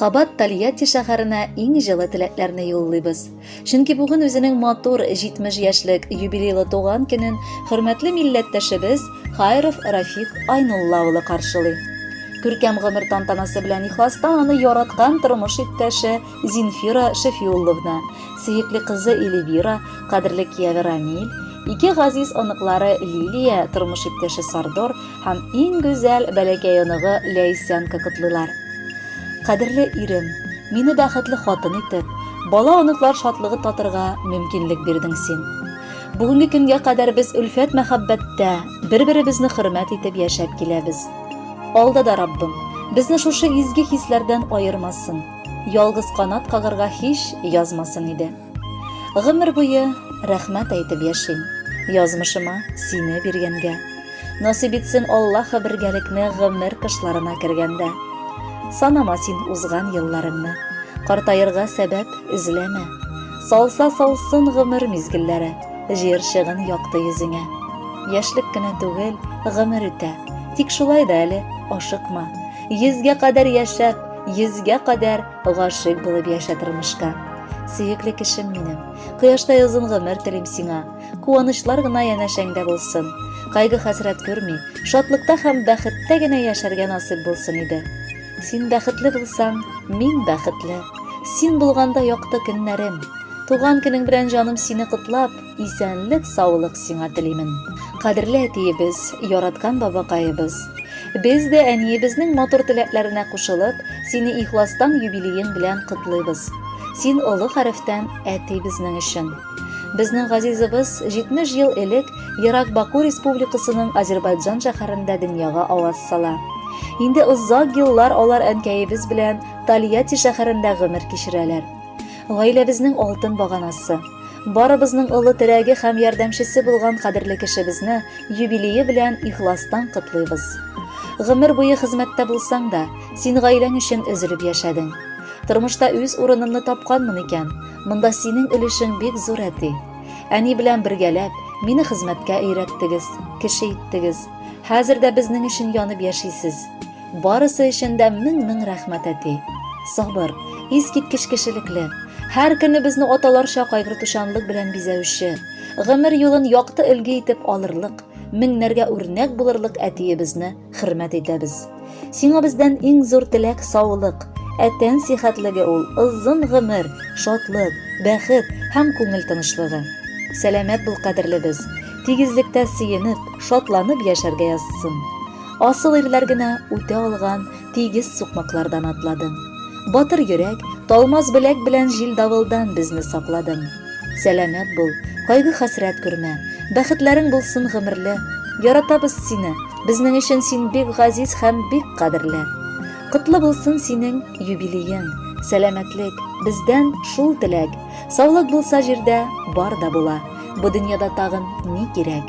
Кабат Тольятти шәһәренә иң җылы теләкләрне юллыйбыз. Чөнки бүген үзенең матур 70 яшьлек юбилейлы туган көнен хөрмәтле милләттәшебез Хайров Рафик Айнулла улы каршылый. Күркәм гомер тантанасы белән ихластан аны яраткан тормыш иптәше Зинфира Шәфиулловна, сөекле кызы Эльвира, кадерле кияве Рамиль, ике газиз оныклары Лилия, тормыш иптәше Сардор Һәм иң гүзәл бәләкәй оныгы Ләйсәнка котлыйлар. Кадерле ирем, мине бәхетле хатын итеп, бала оныклар шатлыгы татырга мөмкинлек бирдең син. Бүгенге көнгә кадәр без өлфәт мәхәббәттә бер-беребезне хөрмәт итеп яшәп киләбез. Алда да Раббым безне шушы изге хисләрдән аермасын, ялгыз канат кагырга һич язмасын иде. Гомер буе рәхмәт әйтеп яшим. Язмышыма сине биргәнгә. Насыйп итсен Аллаһы бергәлекне гомер кышларына кергәндә. Санама син узган елларыңны. Картаерга сәбәп эзләмә. Салса салсын гомер мизгелләре, җир чыгын якты йөзеңә. Яшьлек кенә түгел, гомер үтә. Тик шулай да әле ашыкма. Йөзгә кадәр яшәп, йөзгә кадәр Гашыйк булып яшә тормышка. Сөекле кешем минем, кояштай озын гомер телим сиңа. Куанычлар гына янәшәңдә булсын. Кайгы хәсрәт күрми, шатлыкта һәм бәхеттә генә яшәргә насыйп булсын иде. Син бәхетле булсаң, мин бәхетле. Син булганда якты көннәрем. Туган көнең белән җаным сине котлап, Исәнлек, саулык сиңа телимен. Кадерле әтиебез, яраткан бабакаебыз. Без дә әниебезнең матур теләкләренә кушылып, сине ихластан юбилеең белән котлыйбыз. Син олы хәрефтән әти безнең өчен. Безнең газизыбыз 70 ел элек Ерак Баку республикасының Азербайджан шәһәрендә дөньяга аваз сала. Инде озак еллар алар әнкәебез белән Тольятти шәһәрендә гомер кичерәләр. Гаиләбезнең алтын баганасы, барыбызның олы терәге һәм ярдәмчесе булган кадерле кешебезне юбилее белән ихластан котлыйбыз. Гомер буе хезмәттә булсаң да, син гаиләң өчен өзелеп яшәдең. Тормышта үз урынымны тапканмын икән, монда синең өлешең бик зур, әти. Әни белән бергәләп, мине хезмәткә өйрәттегез, кеше иттегез. Хәзер дә безнең өчен янып яшисез. Барысы өчен дә мең-мең рәхмәт, әти. Сабыр, искиткеч кешелекле, һәр көнебезне аталарча кайгыртучанлык белән бизәүче, гомер юлын якты өлге итеп алырлык, меңнәргә үрнәк булырлык әтиебезне хөрмәт итәбез. Сиңа бездән иң зур теләк саулык, ә тән сихәтлеге ул озын гомер, шатлык, бәхет һәм күңел тынычлыгы. Сәламәт бул, кадерлебез, тигезлектә сөенеп, шатланып яшәргә язсын. Асыл ирләр генә үтә алган тигез сукмаклардан атладым. Батыр йөрәк, талмас беләк белән җил давылдан безне сакладың. Сәламәт бул, кайгы хәсрәт күрмә, бәхетләрең булсын гомерле. Яратабыз сине, безнең өчен син бик газиз һәм бик кадерле. Котлы булсын синең юбилеең, сәламәтлек, бездән шул теләк. Саулык булса җирдә бар да була, бу дөньяда тагын ни кирәк?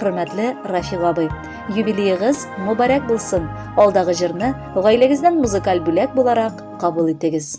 Хөрмәтле Рафил абый, юбилеегыз мөбарәк булсын. Алдагы җырны гаиләгезнең музыкаль бүләк буларак кабул итегез.